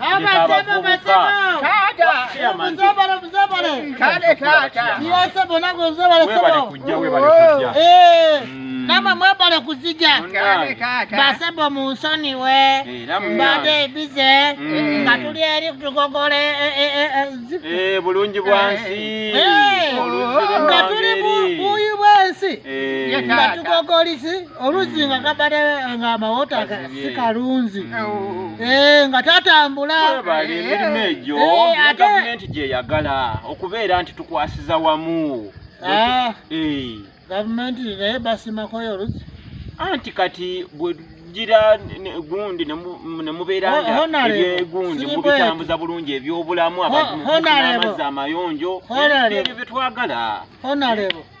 abavubuka kale taata webale kujja webale kujja eh. mm. Mama mwebale kuzija basebo mu nsoni we mbadde ebize mm. nga tuli eri tugogole e, e, e, eh, bulungi bwansi eh, eh. nga tuli buyi bwensi nga tugogolisi oluzi nga kabade nga amawota si kalunzi mm. eh, nga tatambula emirimu eh, egyo eh, gavumenti gyeyagala okubeera nti tukwasiza wamu ah. gavumenti naye basimakoyo oluzi anti kati bwegira gundi nemubeeraegundi mubitambuza bulungi ebyobulamu abantu amazzi amayonjo ebyo byetwagala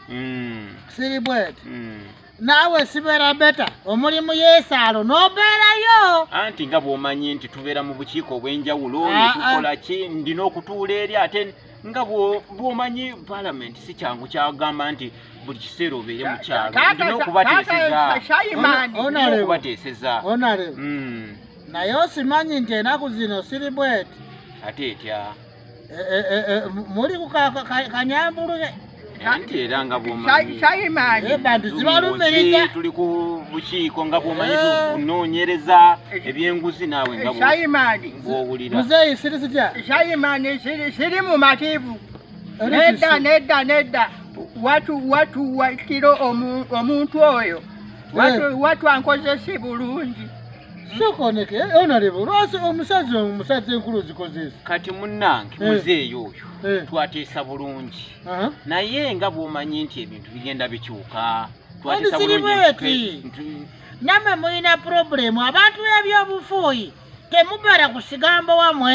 Mm. siri bweti Mm. naawe sibeera beta omuli mu yeesaalo n'obeerayo anti nga bw'omanyi nti tubeera mu bukiiko obw'enjawulo Ah, ne tukola ki ndina okutuula eri ate nga bw'o- bw'omanyi palamenti si kyangu kyagamba nti buli kiseera obeere mu kyalo Taata- ndina taata- okubateeseza Shayimani. Ona- Ndina Honorable. okubateeseza onale Mm. naye osimanyi nti enaku zino siri bweti ate etya Eh, eh, eh, muli kanyambulu anti era nga bwomanyibantu zibalumiriza tuli ku bukiiko nga bwomanyi tunoonyereza ebyenguzi naawe ngabwowuliramuzeeyi siri sitya shayimani siri mumativu nedda nedda nedda watu watu wakiro omuntu oyo watu ankozesi bulungi sokoneke eh, onaleba olwasi omusazi omusazi enkulu ozikozeesi kati munange eh. muzeeyi oyo eh. twateesa bulungi naye nga bwomanyi nti ebintu bigenda bikyuka twateesa bulungi namwe mulina purobulemu abantu ebyobufuuyi temubala kusigambo wamwe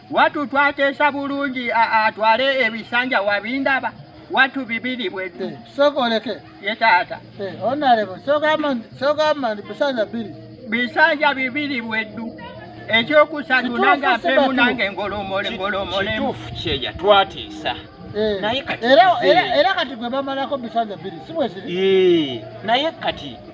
Watu twateesa bulungi atwale ebisanja wabindaba watu bibiri bweddu eh, soka oleke ye taata eh, onalebo sogamba nti bisanja biri bisanja bibiri bweddu ekyokusatu nange apemu nange ngolomole ngolomolemu kyeya twatiisa eh, era kati gwe bamalako bisanja biri si bweziri naye kati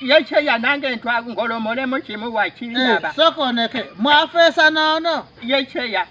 yekyeya nange ntwa ngolomolemu kimu Eh, wakiraba sooka oneke mwafeesa noono yekyeya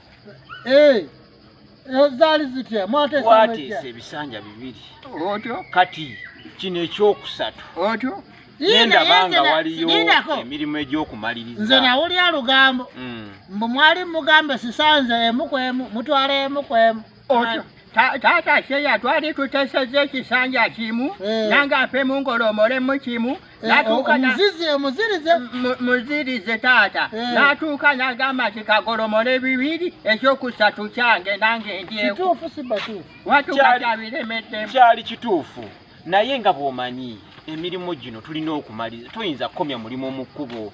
Eh, eh, zaali zitya mwateesa twateesa mwejja ebisanja bibiri otyo kati kino ekyokusatu otyo nendaba nga waliyo lindako emirimu nze egy'okumaliriza nawulira lugambo Mm. mbu mwali mugambe sisanze emu kwemu mutwala emu kwemu Oto- ta- taata seya twali tutesezza ekisanja kimu Eh. nange afe mungolomolemu kimu Eh, natuuka na- omuzizi omuzirize mu- muzirize taata Eh. natuuka nagamba nti kagolomole bibiri ekyokusatu kyange nange ndyeko kituufu si batuufu watuuka Kyali- kyabiremeddemu kyali kituufu naye nga bw'omanyi emirimu gino tulina okumaliriza toyinza kukomya mulimu mu kkubo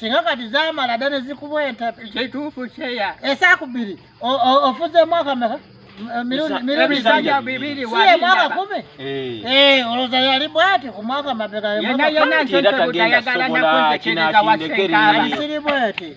singa kati zamala dda ne zikubweta kituufu kyeya esaaku bbiri ofuze mwaka meka mwaka kumi eh. Eh, olowooza yali bwati ku mwaka mabegayonayonansobola kinakindekerealisiri bweti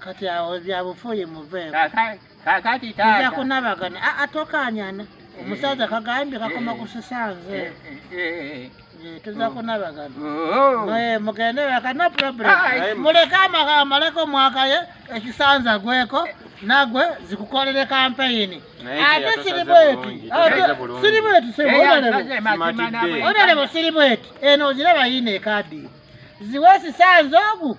kati awo byabufuuyi muveeko Kaka- kakati nja taata kunabagana Ah, ah, tokanyana omusajja kagambye kakoma kusisanze Eh, eh, Eh, tuza kunabagana oh. Mwe mugende waka no problem Aye. muleke amaka amaleke omwaka ye ekisanza gweko nagwe zikukolere kampeyini Naye ate teyasaze siri bweti bulungi, Ate teyasaze bulungi. siri bweti Eh, sebo yasaze olerebo mazima Simatidde. nawe. olerebo siri bweti eno oziraba yine ekadi ziwe esisanza ogu